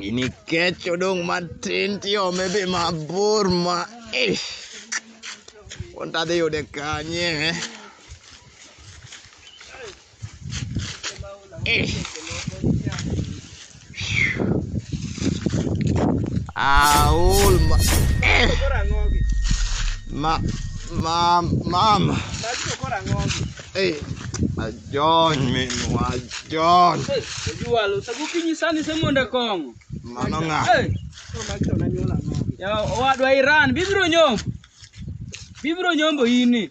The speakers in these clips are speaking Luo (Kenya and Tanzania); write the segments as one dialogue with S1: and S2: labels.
S1: Gini kech odong' matin tiome be mabor ma eh. Wuon tadhi yude kanye eh. Eh. Aol ma eh, Koro ang'ogi. ma ma mam Magi to koro ang'ogi. eh ajony minwa ajony Hey, ojuwalo
S2: sagu kinyi sani se mondo kong'o. mano ng'a Hey, Koro magi
S1: to nanyuol
S2: ang'ogi. ya owadwa Iran bibiro nyombo. Bibiro nyombo ini.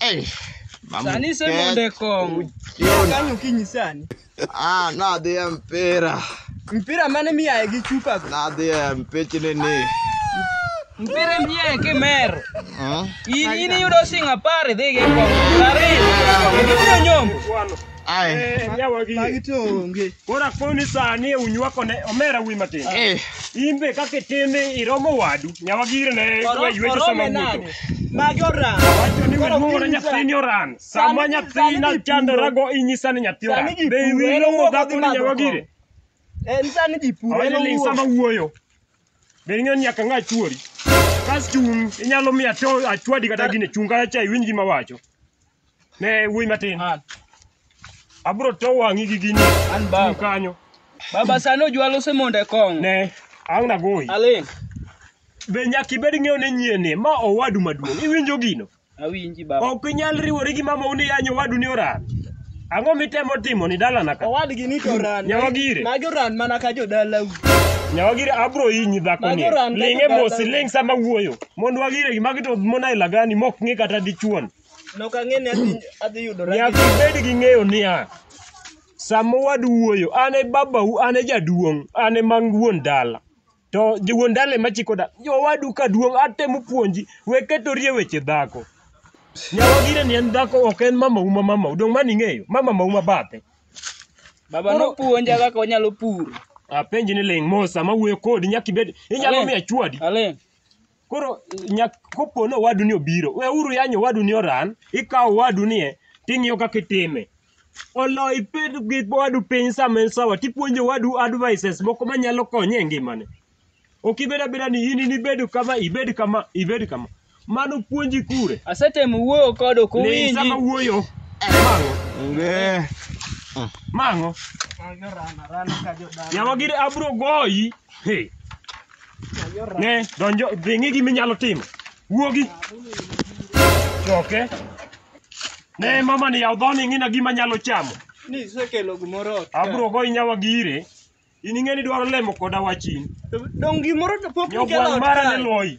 S3: Ei,
S2: mamu Sani se ket- monde kong'o. uchiona. Kanyo okinyi
S3: sani. Ah, nadhi
S1: e mpira.
S3: Mpira mane miyaye gi chupa go. Nadhi e mpichni
S1: ni.
S2: Mpira miyaye kimer. Hmm? In in iyudo sing apar idhi gi kong'o. Ariyo. Ibiro nyombo. Ai. Magi
S3: to onge. Koro akoni
S4: sani unywako ne omera wi matin. Eh. In be kaka itime iromo wadu. Nyawa gire ne Oro- waywecho sama orome wuotho. nade? Magi oran.
S3: Wacho ni Koro
S4: weluongo ne piny nyathi ni oran. Sama Sani- nyathi sani na ji chandorago inyisa ni nyathi oran. Sani ji Be puro, iwinjo en owuok dhako odhi ni madho nyawa kong'o. gire? Eh, Sani
S3: ji puro. Awene en ling owuok. sama wuoyo.
S4: Be ing'e ni nyaka ng'a chuori. Kas chung' inyalo miya to achwadi kata gine chung' kata cha iwinj gima wacho. Ne wuoyi matin. An. Abro to wang'i gi gini. An Chung' baba. kanyo. Baba sani
S2: ojwalo osemondo e kong'o. Ne. Ang'
S4: nagoyi. Aling'.
S2: Be
S4: nyaka ibed ng'eyo ni nyieni ma owadu maduong'. Iwinjo gino? Awinji baba. Ok
S2: inyal riwori gi
S4: mamau ni yanyo owadu ni oran. Ang'o mitemo timo ni dalana ka? Owadgi ni to ran. Nyawa
S3: gire. Magi oran
S4: mana ka
S3: jodalau. Nyawa gire
S4: abro inyi dhako ni. Magi oran ka Ling' e jodala. mos, ling' sama wuoyo. Mond wagire gi magi to mona ilagani mok ng'i kata dichuon. Nok ang'e ni
S3: adhi adhi yudora. Nyaka ibed gi ng'eyo
S4: niya, sama waduoyo, an e babau, an e jaduong', an e mang wuon dala. To jo- wuon dala ema chiko dala. Owadu ka duong' atemo puonji, we ketori e weche dhako. Nyawa gire ni en dhako ok en mamau ma mamau. Dong' mani ing'eyo, ma mamau ma bathe. Baba
S2: nopuonja kaka wanyalo pur. Apenji ni ling'
S4: mos sama wuoyo kodi nyaka ibed inyalo Aling'. miya chwadi. Aling'.
S2: Koro
S4: nyak kopo ni owadu ni obiro, weuru yanyo owadu ni oran, ikawo owadu ni e, ting'iyo kaka itime. Olo iped gi owadu piny sama en sawa, tipuonjo owadu advices moko manyalo konye e ngimane. Ok ibed abeda ni in inibed kama, ibed kama, ibed kama. Mano puonji kure. Asetemo wuoyo kode
S2: ok Ni owinji. sama wuoyo.
S4: Mang'o, Onge. mang'o. Yawa gire abro goyi. Hey. Ne, donjo, dhi ng'i gima inyalo timo. Wuogi. Choke. Ne, mama ni yaw dhoni ing'ina gima nyalo chamo. Ni isekelo
S3: gimoro ot. Abro go inyawa
S4: gire. In ing'eni dwaro lemo koda wachin. Dong gimoro
S3: to pok Nyogwang' mara ne loyi.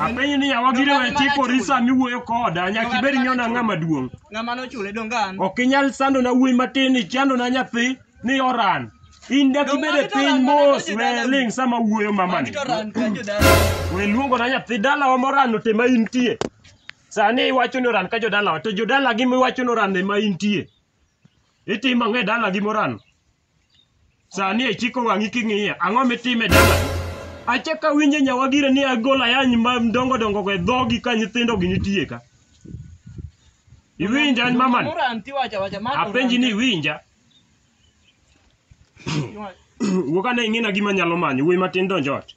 S4: Apenyi ni yawa gire we chik orisa miwuoyo koda nyaka ibed nyona ng'ama duong'. Ng'ama nochule dongan.
S3: Ok inyal sando na
S4: wuoyi matin ni chando na nyathi ni oran. In dak ibed e piny mos we ling sama wuoyo mamani. We luongo na nyathi dalawa moran ote ma intie. Sani iwacho ni oran ka jodalawa to jodalagi miwacho ni oran ema intie. Itimo ang'o e dalagi moran? Sani ichiko wang'i king'iya, ang'o mitime dala? Achaka winje nyawagire ni agol ayany ma dongo dongo go e dhogi ka nyithindo gi nitie ka. Iwinja an mamani? Oranti wacha wacha ma. Apenji ni iwinja? Wuog ane ing'ina gima nyalo manyo, wuoyi matin donj ot.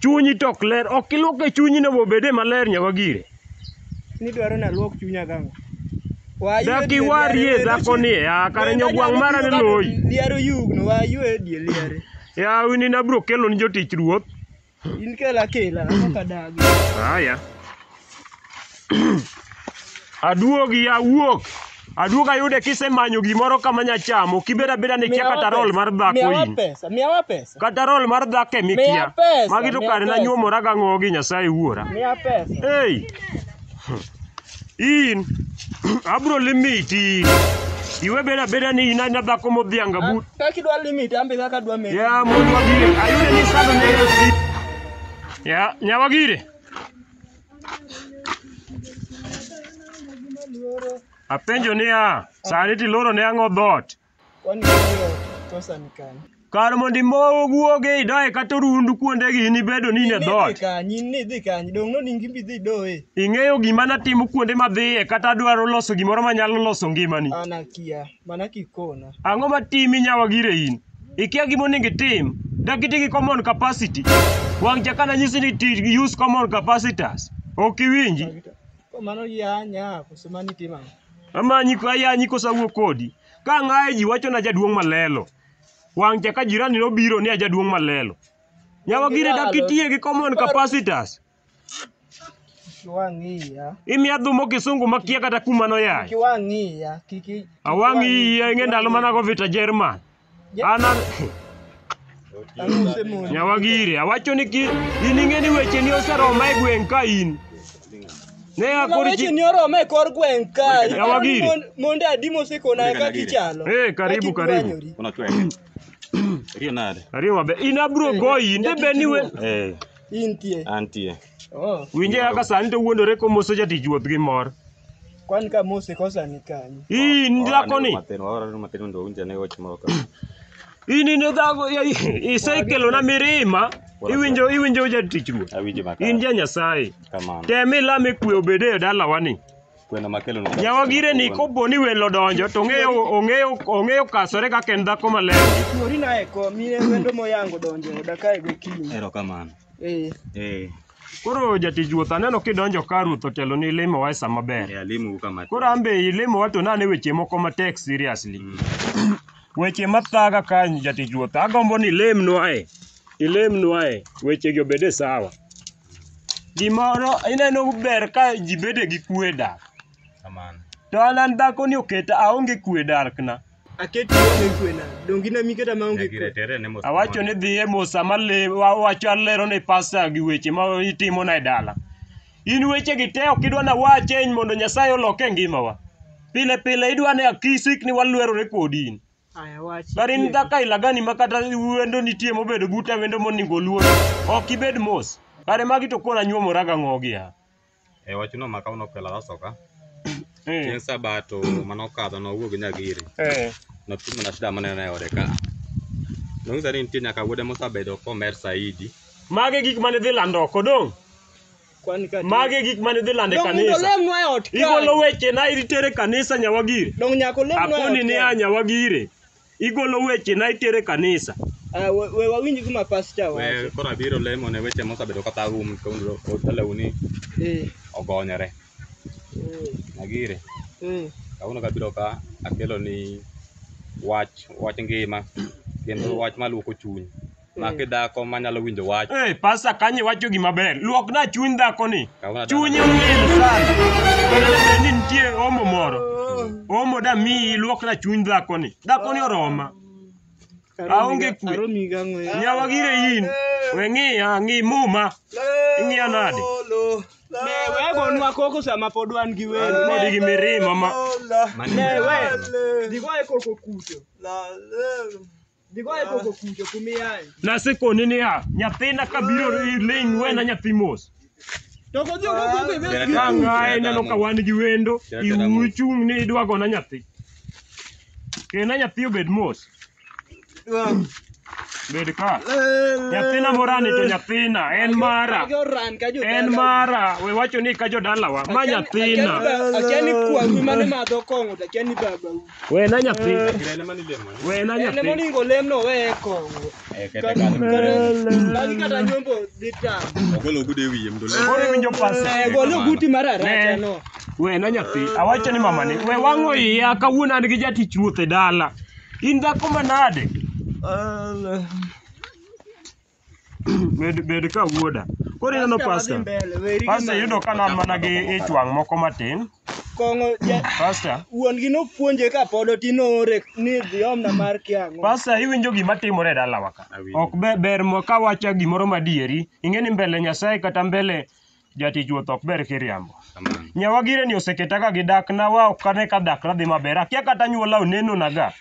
S4: Chunyi to ok ler, ok iluoke chunyi no bobede maler nyaka gire. Ni
S3: dwaro na luok chunya gang'o? Dak
S4: iwarie dhako ni ya kare nyogwang' mara ne loyi. Liaro yugno wa
S3: ywe e die liare. Yawi ni nabro
S4: kelo ni jotich ruoth. In kela
S3: kela, ok adagi. Haya.
S4: Aduogi awuok. Aduog ayude kisemanyo gimoro kama nya chamo kibeda beda ni kia kata roll mar dhako Miyawa in. pesa, miyawa pesa.
S3: Kata roll mar dhako e
S4: Miya mikia. pesa, Magi to miya kare pesa. nanyuomora ga ng'ogi Nyasaye wuora. Miya pesa. Hey! In abro limiti in. Iwe beda beda ni in anya dhako modhianga but. Kaka idwa limit, ambe
S3: kaka adwa medi. Ya mundu wagire.
S4: Ayude ni sando ne. Ya nyawagire. Apenjo niya, sani tiloro ne ang'o dhot? Kwani hiyo
S3: kosa ni kani? Kar mondo imowo
S4: guoge idaye kata orundu kuondegi in ibedo ni in e dhot. Nidhi kanyi, nidhi kanyi,
S3: dong' noni ngimbi dhi doye. Ing'eyo gima natimo
S4: kuonde madhiye kata adwaro loso gimoro manyalo loso ngimani. An akia. Mana
S3: kikona. Ang'o ma timi
S4: nyawa gire in? Ikia gima onego itim. Dak iti gi common capacity. Wang' cha kana nyisi ni ti use common capacitors. Ok iwinji. Ko mano
S3: yanya koso mani timo ang'o? Amanyi ko
S4: ayanyi koso awuo kodi. Ka ang'aye ji wacho na jaduong' malelo. Wang' cha ka jirani nobiro ni ajaduong' malelo. Nyawa gire dak itie gi common capacitors.
S3: Kiwang'iya. Imiya dhumo kisungu
S4: makia kata kuma noyaye. Kiwang'iya.
S3: Kiki. Awang' iya ing'e
S4: ndalo mana go vita Jerman. Ana Nyawagire awacho ni ki in ing'e ni weche ni oseroma e gweng' ka in. Ne akor Weche chi. ni
S3: oroma e kor gweng' ka. Nyawagiri. Mon- Monde
S4: adi mosekona
S3: ka kichalo. Eh, karibu, Ka karibu.
S4: kikwanyori.
S5: Unachweka. Hiyo nada. Ariyo mabe. In abro
S4: goyi inde be ni we. Eh. Intie.
S3: Antie.
S5: Oh, Winje kaka
S4: sani to wuondore komoso jatich wuoth gi mor. kwan ka
S3: mose kosa ni kanyo. Ii ni dhako ni.
S4: Matin, waora ni matin mondo owinja
S5: ne wach moro ka. Ii ni ni
S4: dhako ya- i- isekelo na mirima. Iwinjo iwinjo jatich ruoth. Awinjo makare. In ja
S5: Nyasaye.
S4: Kamano. Tem ilame
S5: kwe
S4: obede e dalawani. kwena makelo no
S5: Jawa gire ni kopo ni
S4: welo donjo to ong'eyo ong'eyo ong'eyo kasore kaka en dhako maler. Kuori na eko
S3: mine wendo moyango donjo e oda kae gokinyi. erokamano Eh,
S5: eh Koro
S4: jatich ruoth aneno kidonjo ka ruoth otelo ni limo wa e sa maber. eh, alimu kama Koro an
S5: be ilimo wa
S4: to nane weche moko matek seriously. Weche mathaga ka jatich ruoth agombo ni ilemnwa e. Ilemnwa e. Wechegi obede sawa. gimoro ineno ber ka ji bede gi kwe e dak Kamano.
S5: to an an dhako
S4: ni oketa aonge kwe e darkna Aketi onge
S3: kwe na. Dongi na miketa ma onge Nyagire kwe. tere ne mos. awacho ni dhi
S4: e mosa male awacho alero ne pasta gi weche ma itimona e dala in wechegi te ok idwa na wache mondo nyasaye olok e ngimawa pile pile idwa ni akisikni walwerore kodi in Aya wachi. Kar in
S3: dhako aila gani
S4: ma kata wendo nitie mobedo buta wendo moningo luor. Ok ibed mos. Kare magi to koro anyuomora ga ng'ogi ya. E wachno ma
S5: kawno pela rasoka. Eh. Chieng' sabato mano kadho no wuog nyagiri. Eh. No timo na shida manene ode ka. No ngisa ni nitie nyaka wuode mosabedo komer saidi. Magi gik mane
S4: dhi lando oko dong'. Kwan ka Magi e gik mane idhi lando e Dong mondo kanisa. olemnwa e ot Igolo kae. weche na itere kanisa nyawagire. Dong nyaka olemnwa e ot Akoni
S3: ni kae. a nyawagire.
S4: Igolo weche na itere kanisa. Ah, we we wawinj
S3: gima pastor We wacho. koro abiro lemo ne
S5: weche mosabedo kata um kondo otalewni Eh, ogonyore. eh, Nagire. eh. Kawuono kabiro ka akelo ni wach wach ngima kendo wach maluoko chuny. Mak i dhako ma nyalo winjo wach. Hey, pasta kanyo iwacho
S4: gima ber. Luokna chuny dhakoni. Kawna dala. Chunye olil sana. Kendo ne bed ni nitie omo moro. Omo da miyi luokna chuny dhakoni. Dhakoni oroma. Aonge kwe. Aromi gang'o ya. Nyawa gire in. We ng'iya, ng'i muma. Ing'iya nade? Ne
S3: wegonwa koko sama pod wan gi welo. Pod gi mirima ma.
S4: Ne we.
S3: Digoye koko kuto. Dhigoye koko kujo kumiyae. Nasekoni niya,
S4: nyathina kabiro ling' wena nyathi mos. To kodhi ok
S3: ogogo e bed Ka ng'aye ineno ka
S4: wan gi wendo, iwu ichung' ni idwa gona nyathi. Kena nyathi obed mos. Bed ka. Nyathina morani to nyathina, en mara. Age oran ka jo. En mara, we wacho ni ka jodalawa, ma nyathina. Akiani kwaru
S3: mane madho kong'o to akiani babau. Wena nyathi. Kirene
S4: mani lemo. Wena Ele nyathi. moningo olemno
S3: weye kong'o. Eh, kete kanyo. Magi kata nyombo dhi tam. Ogolo ogude wiye
S5: mdo lemo. Koro iwinjo pasi. Eh,
S4: golo guti mar aracha
S3: no. Wena nyathi.
S4: Awacho ni mamani. We wang'o iya kawuono an gi jatich ruoth e dala. In dhako manade? Bed bed ka wuoda. Koro ineno pasta. Pasta yudo ka nan mana gi ich wang' moko matin. Kong'o ja-
S3: Pasta.
S4: wuon gi nopuonje
S3: ka pod otin oore ni dhi omna mar kiang'o. Pasta iwinjo gima
S4: timore e dalawa ka. Ok ber ber mo kawacha gimoro madieri. Ing'e ni mbele Nyasaye kata mbele Jatich wuoth ok ber kiriambo. Nyawagire ni oseketa ka gi dak na wa ok ane ka dak na dhi maber. Akia kata nyuola oneno na ga.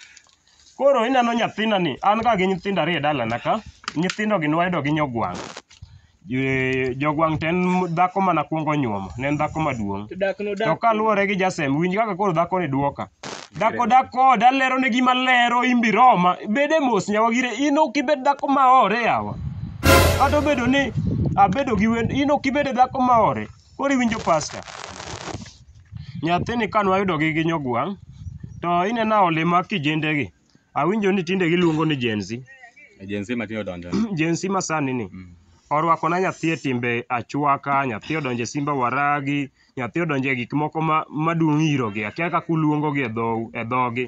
S4: Koro ineno nyathina ni an ka gi nyithindo ariyo e dala na ka. Nyithindo gi nwayudo gi nyogwang'. Eh, Jogwang' to en dhako mana kwongo nyuomo. Ne en dhako maduong'. To dak no To dak. kaluwore gi Jasem, winj kaka koro dhakoni dwoka. Dhako dak koda alero ne gima lero imbi Roma. Bede mos nyawagire in ok ibed dhako ma ore yawa. Kata obedo ni abedo gi wend in ok ibed dhako ma ore. Koro iwinjo pasta. Nyathini kane wayudo gi gi nyogwang' to inena ole ma kijende gi. Awinjo ni tinde giluongo ni Gen Z. Agency matiyo
S5: donjo. Gen Z masani
S4: ni. Mm. Orwakona nyathi e timbe achwaka, nyathi odonjo e simba waragi, nyathi odonje gik moko ma maduong' iro gi akia kaka uluongo gi e dhou e dhogi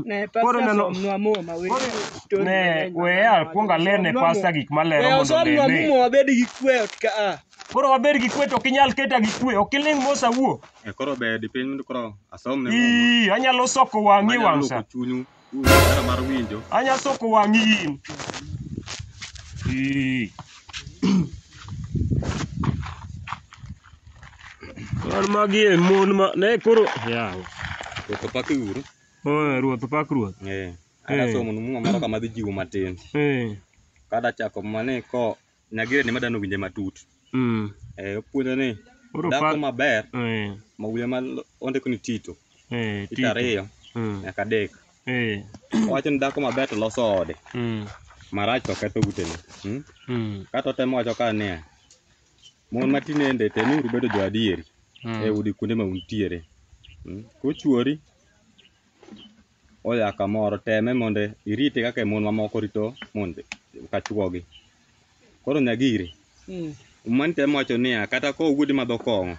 S4: Ne Koro pastor neno- somnwa muma we. Story ne mang'eny we mang'eny al kuonga mang'eny. lerne Somnwa pasta muma. gik malero We mondo osomnwa lerne muma wabed gi kwe ot
S3: ka a. koro waber gi kwe
S4: to ok inyal keta gi kwe ok iling mos awuo Eh, koro be dipiny
S5: koro asomne muma ii anyalo soko wang'i
S4: manyalo wang' sa loko chunyu Hera mar
S5: winjo. Anya soko wang'i
S4: in. Ee. Wan magi e mon ma ne koro yawa. Ruoth opak
S5: uru. Oh, ruoth opak
S4: ruoth. Eh. Ada Eh. somo
S5: muma moro kama dhi jiwo matin. Eh. Kada chako mane ko Nyagire ni madano winje matut. Mm. Eh, opuonja ni Koro dhako pa- maber Eh, ma wiye ma ondiko ni Tito, eh, Tito Tito. ariyo Mm. nyaka adek. Eh, Owacho ni dhako maber to loso ode, mm, marach to ketho utene. Mm? mm, Kata otemo wacho ka niya, mon ma tinende temuru bedo jo adieri mm. e udi kuonde ma untiere. Mm? Kochuori oya kamoro teme mondo irite kaka mon mamoko rito mon ka chwogi. Koro Nyagiri, Mm. mani temo wacho niya, kata ka owuodi madho kong'o,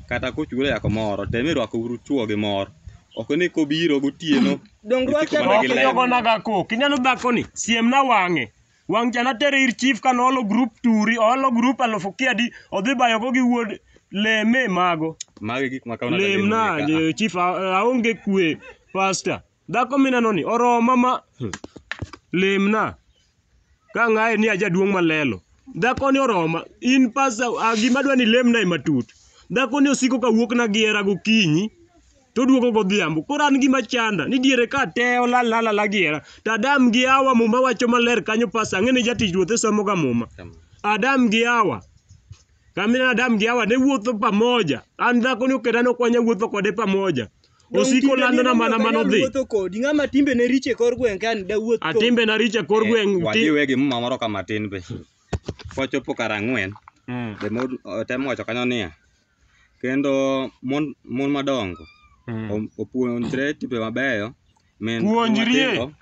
S5: kata kochuro ya kamoro, tem irwako uru chwo gi mor. Ok ni kobiro gotieno, Donge isiko rwakta mana gi kok?
S3: ler. Ijogonaga
S4: kok. Ineno dhakoni? Siemna wang'e. Wang' cha natere ir chief ka noolo group turi, oolo group alufu kiadi, odhi bayogo gi wuod leme mago. Magi gik makawo nade
S5: lem na lemo ni ka? je- chief
S4: a- aonge kwe pasta dhako mineno ni oroma ma Hmm. lem na ka ng'aye ni ajaduong' malelo dhako ni oroma in pasta a, gima dwa ni lem na e matut dhako ni osiko ka wuok na gi hera gokinyi to oduogo godhiambo. Koro an gima chanda ni diere ka te olal lala la giera. To Adam gi Hawa muma wacho maler kanyo pas ang'e ni jatich ruoth e somo ga muma. Adam gi Hawa. Kamina Adam gi Hawa ne wuotho pamoja. An dhako ni oketa no kwanya wuotho kode pamoja. Osiko lando na mana mano dhi. Wuotho kodi ng'ama timbe
S3: ne riche kor gweng' kan da wuoth kodi. Atimbe na richa kor
S4: gweng'. Wadhi wegi muma moro kama
S5: tin be. Kwachopo kar ang'wen, Mm. be mo- tem wacho kanyo niya, kendo mon mon madongo Mm. o- opuonjre timbe mabeyo min Puonjrie. matindo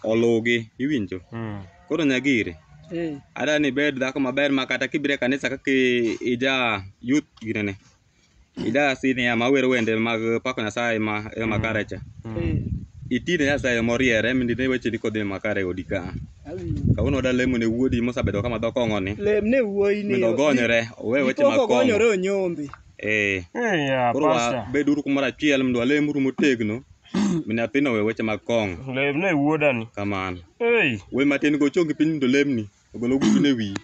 S5: oluwgi iwinjo Mm. koro nyagiri Eh. ada ni bed dhako maber ma kata kibire kanisa kaka i- ija youth ginene ija sinia ma wero wende mag pako nyasaye ma e makare cha Eh. itine nyasaye moriere mindine wecheni kodhi makare e odi ka Awinjo. Kawuono da lemo ne wuodi mosabedo kama dho kong'o ni. Lem ne wuoyi ni. Mondo
S3: ogonyore, owe
S5: weche mag Koko kong'o. gonyore onyombe.
S3: Eh. Eya,
S5: Koro pasta. wabeduru kumoro achiel mondo walemuru motegno. Mi nyathino owe weche mag kong'o. Lem ne wuoda ni.
S4: Kamano. Ei.
S5: We matin go chongi piny mondo lemni. Ogol ogudu ne wiyi.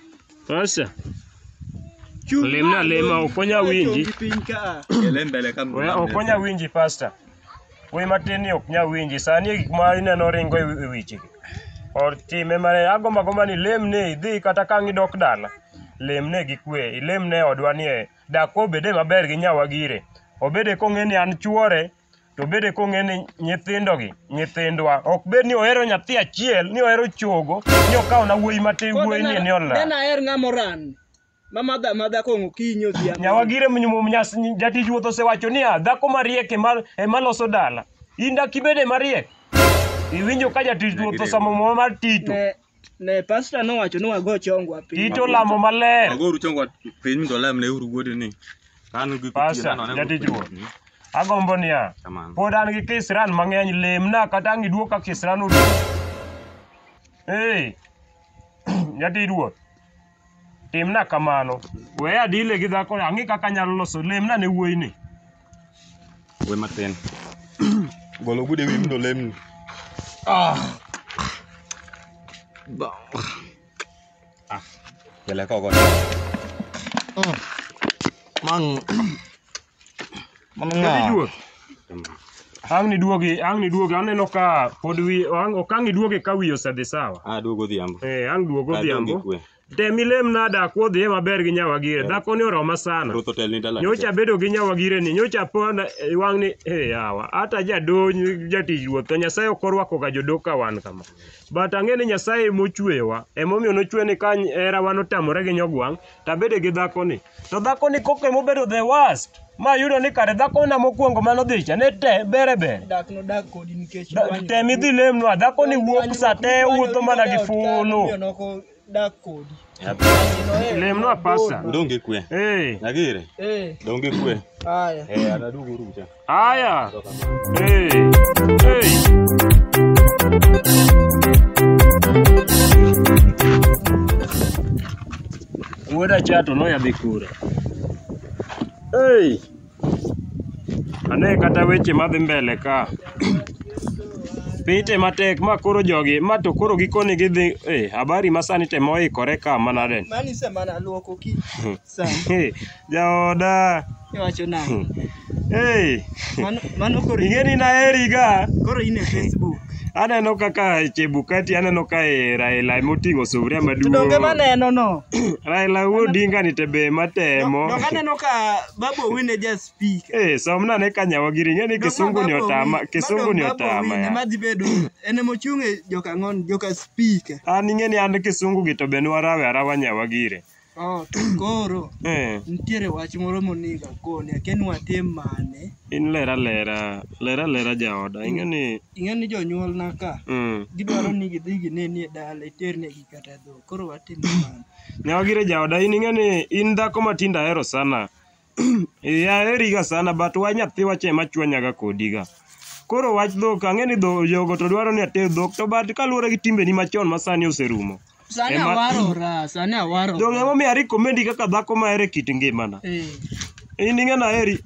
S5: Pasta.
S4: Lem na lema, ok onya winji. Chongi piny ka. Ele
S5: mbele ka We ok onya winji
S4: pasta. Wuoyi matin ni ok nyal winji. Sani e gik ma ineno ringo e e wechegi. Or time mane agomba gomba ni ilemne idhi kata ka ang' idok dala, lemne gi kwe. Ilemne e odwa ni e, dak obede maber gi nya Wagire. Obede kong'e ni an chwore, to obede kong'e ni nyithindo gi, nyithindwa. Ok bed ni ohero nyathi achiel, ni ohero chogo, ni okawo na wuoyi matin, wuoyi ni ni olal. Nena aher ng'ama oran.
S2: ma madho amadha kong'o okinyi odhiambo. Nyawagire mnyum nyas
S4: jatich wuoth osewacho niya, dhako mariek ema ema loso dala. In dak ibede mariek? Iwinjo ka jatich ruoth osamo muma mar Tito. Ne, ne pasta
S2: nowacho ni wago chongwa piny. Tito lamo maler.
S4: Agoru chongwa
S5: piny mondo lem ne uru wuode ni. Kanu gi Pasta, jatich
S4: ruoth. Agombo niya, Kamano. pod an gi kisran mang'eny, lemna kata ang' iduok ka kisran oduok. Ee, jatich ruoth. Timna kamano. We adile gi dhako, ang'i kaka anyalo loso, lemna ne wuoyi ni.
S5: We matin. Golo ogudu e wiyi mondo olemni. Ah. Ba. Ah. Kele kogo. Mang.
S4: Mano Kata ng'awa. iduog. Ang' niduogi, ang' niduogi. Aneno ka pod wi, ang' ok ang' iduogi ka wi osedhi sawa. Ah, duogo odhiambo. Eh, ang'
S5: duog Ah, duogo odhiambo.
S4: ikwe. Tem ilem nada akwo dhiye maber gi nyawagire. Dhakoni oroma sana. Ruth otelni dalani. Nyocha bedo gi nyawagire ni, nyocha pona eh, wang' ni, eh yawa, hata jadony jatich ruoth, to Nyasaye ok orwako ga jodok ka wan kama. But ang'e ni Nyasaye emochweyowa, emomiyo nochwe ni ka herawa notamore gi nyogwang', to abede gi dhakoni. To dhakoni koko ema obedo the worst. Ma yudo ni kare dhakona mokwongo mane odhi cha ne te bere bere. Dak nodak kodi
S2: nikech Da- dwani. Tem idhi lemnwa,
S4: dhakoni wuok sa te wuotho mana gi fulu. Omiyo noko dak
S2: kodi.
S4: Lemnwa pasta. Udong' gi kwe. Eh.
S5: Nyagire, Eh, dong' gi kwe. haya. Eh, anaduogo
S2: rucha.
S5: Haya.
S4: Hey. Hey. Kuoda chato no yadhi kura. Hey. Ane kata weche madhi mbele ka. Pite matek ma koro jogi ma to koro gikoni gidhi eh habari masani temo ikore ka manaden. Mani se mana luoko
S2: ki. Sana. Hey, jaoda.
S4: Iwacho
S2: nang'o? Hey, Mano mano koro ing'e ni naheriga.
S4: koro in e
S2: Facebook. Aneno kaka
S4: Chebukati aneno ka e Raila ema oting'o sufuria To donge maduong'. maneno no.
S2: Raila wuod
S4: Odinga ni te be matemo. Donge aneno ka
S2: Babu Owino e ja speak. Eh, somna ne kanyawa
S4: giri ing'e ni kisungu ni otama, kisungu ni otama. ya.
S2: Madhi bedo en ema ochung' e joka ng'on, joka speak. An ing'e ni an
S4: kisungu gi to be nwarawe arawa nyawa gire. Oh, to
S2: koro Eh, nitiere wach moro monego akoni akia ni watim mane in lera lera,
S4: lera lera jaoda. Ing'e ni ing'e ni
S2: jonyuolna ka mm, gidwaro ni gidhi gineni e dala iternegi kata dhok koro watim mane nyawagire jaoda
S4: in ing'e ni in dhako ma tinde ahero sana. Eh, aheriga sana but wach nyathi wach ema chwanyaga kodiga. Koro wach dhok ang'e ni dho jogo to dwaro ni ater dhok to but kaluwore gi timbeni machon ma sani oserumo. Sani Ema- awarora,
S2: sani awarora. Donge emomiyo ari
S4: komendi kaka dhako ma ere kit ngimana. Eh, In ing'e na heri.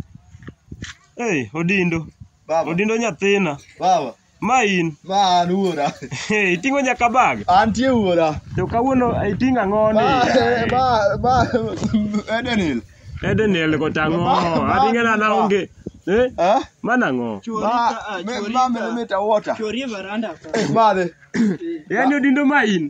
S4: Hey, Odindo. Baba, Odindo nyathina. baba. Ma
S1: in. Ma
S4: an wuora.
S1: Hey, iting'o nyaka
S4: bag. Antie wuora.
S1: To kawuono
S4: iting'o ang'o ni? Ma eh, ma ma Edenil. Edenil go tang'o. Aringe na na onge. Eh? Eh? Mana ng'o? Ma ma
S1: me meta water. Chori veranda.
S2: Eh, madhe.
S1: Yaani odindo
S4: ma in.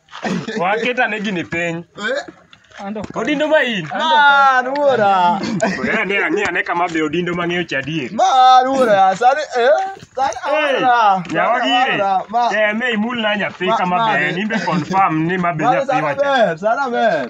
S4: Waketa ne gini piny. Odindo ma in. Man wuora.
S1: Ora ne ang'e ane
S4: kama be odindo mang'eyo cha adier. Man wuora.
S1: Sani eh sani awara. Nyawa gire.
S4: Ma. Eh me imul na nyathi Ma- kama ma- be en imbe confirm ni ma be Ma nyathi sani wacha. ber, sani ber.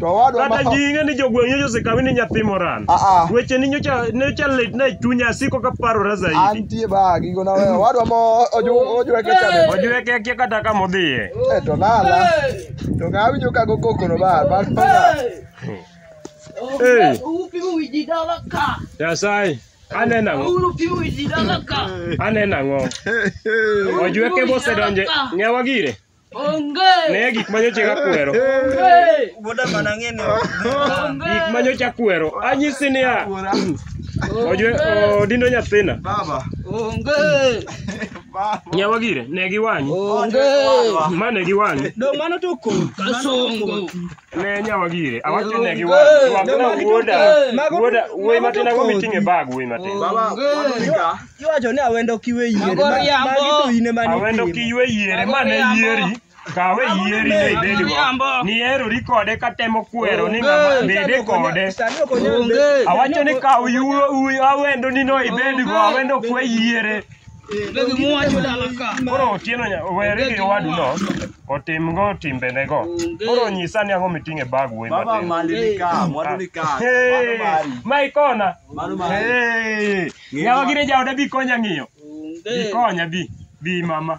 S4: To owadwa ma Kata ji
S1: ing'e ni jogweng'
S4: nyocha osekawi ni nyathi moran. Ah, ah. Weche ni nyocha nyocha litna e chunya asiko ka parora zaidi. antie ba gigo na
S1: wewe. Owadwa ma oju- ojweke cha be. Ojweke akia kata kama
S4: odhiye. Eh, to nala.
S1: To ng'a awinjo ka go koko no ba. Ba to na. Hey.
S4: Upimo wiji dala ka. Nyasaye, aneno ang'o? Uru pimo wiji dala
S2: ka. Aneno ang'o?
S4: Ojweke bosedonje. Ng'ewa gire. Onge. Ne
S2: gik ma nyocha
S4: kakwero. Onge.
S2: Boda mana ng'e ni
S3: Onge. Gik
S4: ma nyocha kwero. Anyisi niya. Kuora. Ojwe odindo nyathina. Baba. Onge.
S2: Baba.
S1: Nyawa gire, ne
S4: giwanyi. Onge.
S2: Ma ne
S4: giwanyi. Dong' mano to kor.
S3: Kasongo.
S2: ne nyawa
S4: gire awacho ne gi wuoda wuoda wuoyi matin ago miting'e bag wuoyi matin
S1: iwacho ni awendo
S3: kiwe yiere magi to ine mani awendo kiwe yiere
S4: mane yieri kawe yieri ne ibedi go ni erori kode katemo kwero ni ng'ama bede kode awacho ni kaw yuo awendo ni no ibedi go awendo kwe yiere Begi
S2: muwacho dala ka. Koro otieno nya-
S4: weri gi owadu no otimgo timbenego. Onge. Koro nyisa ni ang'o miting'e bag wuoyi Baba matin. mali ni ka, mwandu
S1: ni ka. Mano Hey, mari.
S4: ma ikona. Mano mari.
S1: Hey, Ng'eyo
S4: nyawa ma- gire jaoda bi konya ng'iyo. Bi Onge. konya bi. Bi mama.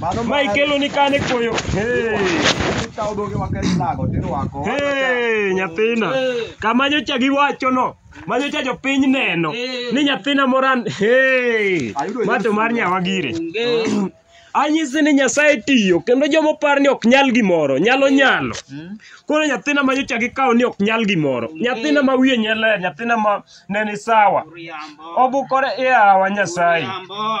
S4: Mano ma ikelo ni kane koyo hey. Ikawo dhoge
S1: ma kech nago tirwako. Hey,
S4: nyathina kama nyocha giwacho no ma nyocha jopiny neno ni nyathina moran hey. Ayudo ma to mar nyawa gire anyisi ni nyasaye tiyo kendo joma opar ni ok nyal gimoro nyalo nyalo koro nyathina ma nyocha gikawo ni ok nyal gimoro nyathina ma wiye nyeler nyathina ma neni sawa obukore e awa nyasaye Jambo.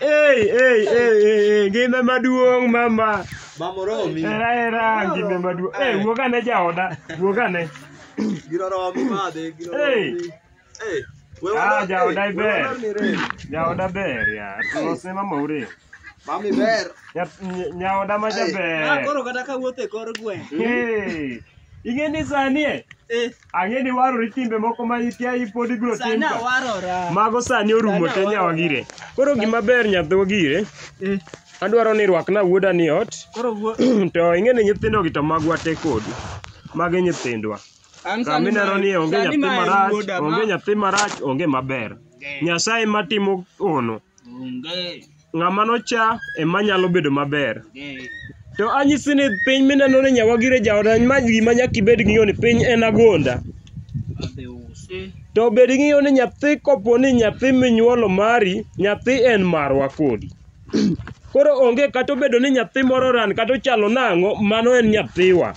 S4: Ei, ei, ei, ei, ei, ngima maduong' mama. Mama oromi.
S1: Era era ngima
S4: maduong'. Ei, wuog ane jaoda, wuog ane. Gino oromi
S1: madhe, gino
S4: Ei.
S1: oromi. Ei. we Ah, wadar- jaoda
S4: ei, we iber. wadar ni rem. Jaoda ber ya. Losne mama ure. Mami ber.
S1: Nya- ny- Nyaoda
S4: ma Ah, jaber. koro kata ka wuotho e
S3: kor gweng'. Ei,
S4: ing'e ni sani e? Eh. Ang'e ni warori timbe moko ma ikia ipod ibiro tim Sana ka. warora. Mago sani
S3: orumo
S4: te nyawa gire. Koro gima ber nyathwa gire, Eh, adwaro ni rwakna wuoda ni ot, Koro wuo. to ing'e ni nyithindogi to magwa te kodi. Magi nyithindwa. An Kama sani ineno ma- ni onge sani nyathi ma en marach, wuoda ma- onge nyathi marach, onge maber. Nyasaye matimo ono. Onge. Ng'ama nocha ema nyalo bedo maber. To anyisi ni piny mineno ni nyawagire jaoda ma gima nyaka ibed ng'eyo ni piny en agonda. To bed ng'eyo ni nyathi kopo ni nyathi minyuolo mari, nyathi en marwa kodi. Koro onge kata obedo ni nyathi moro ran kata ochalo nang'o, mano en nyathiwa.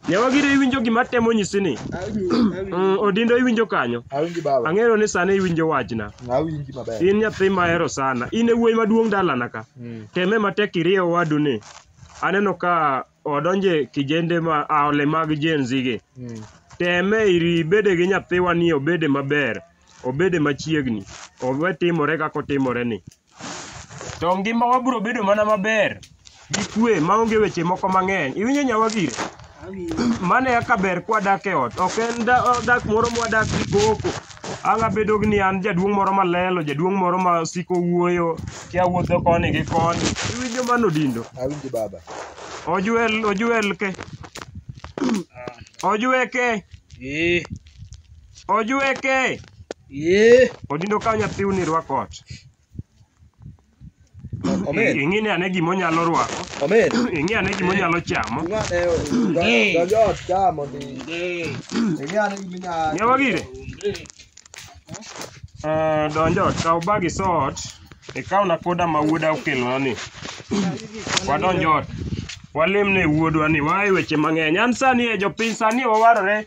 S4: Ne wagire iwinjo gima atemo nyisi ni. Awinji, awinji. Mm, Odindo iwinjo kanyo. Awinji baba. Ang'eyo ni
S1: sani iwinjo
S4: wachna. Awinji maber. In
S1: nyathi mahero
S4: sana. In e wuoyi maduong' dalana ka. Mm. Teme matek irieyo wadu ni. Aneno ka odonje kijende ma aole mag Gen Z gi. Mm. Teme iri bede gi nyathiwa ni obede maber. Obede machiegni. Owe timore kaka otimore ni. to ngimawa biro bedo mana maber gi kwe maonge weche moko mang'eny iwinjo nyawagire mano eka ber kwadak e ot ok en da- o- dak moro mwadak gi koko ang' abedo ni an jaduong' moro malelo jaduong' moro ma siko wuoyo kia wuotho koni gi koni iwinjo mano dindo Awinji baba.
S1: ojuel
S4: ojuel ke ojueke Eh. Ojweke. Ee. Odindo ka nyathiu ni rwako ot.
S1: Omen. Ing'e ni ane gima onyalo
S4: rwako. Omen. Ing'e ane
S1: gima onyalo
S4: chamo. Ee. Donjo
S1: ot ka mondo Ee. ing'e ane gima inyalo. Ng'e wagire.
S4: Eh, donjo ot kaw bag iso ot. Ikaw na koda ma wuoda okelona ni. Wadonjo ot. Walemne wuodwa ni wae weche mang'eny. An sani e jopiny sani wawarore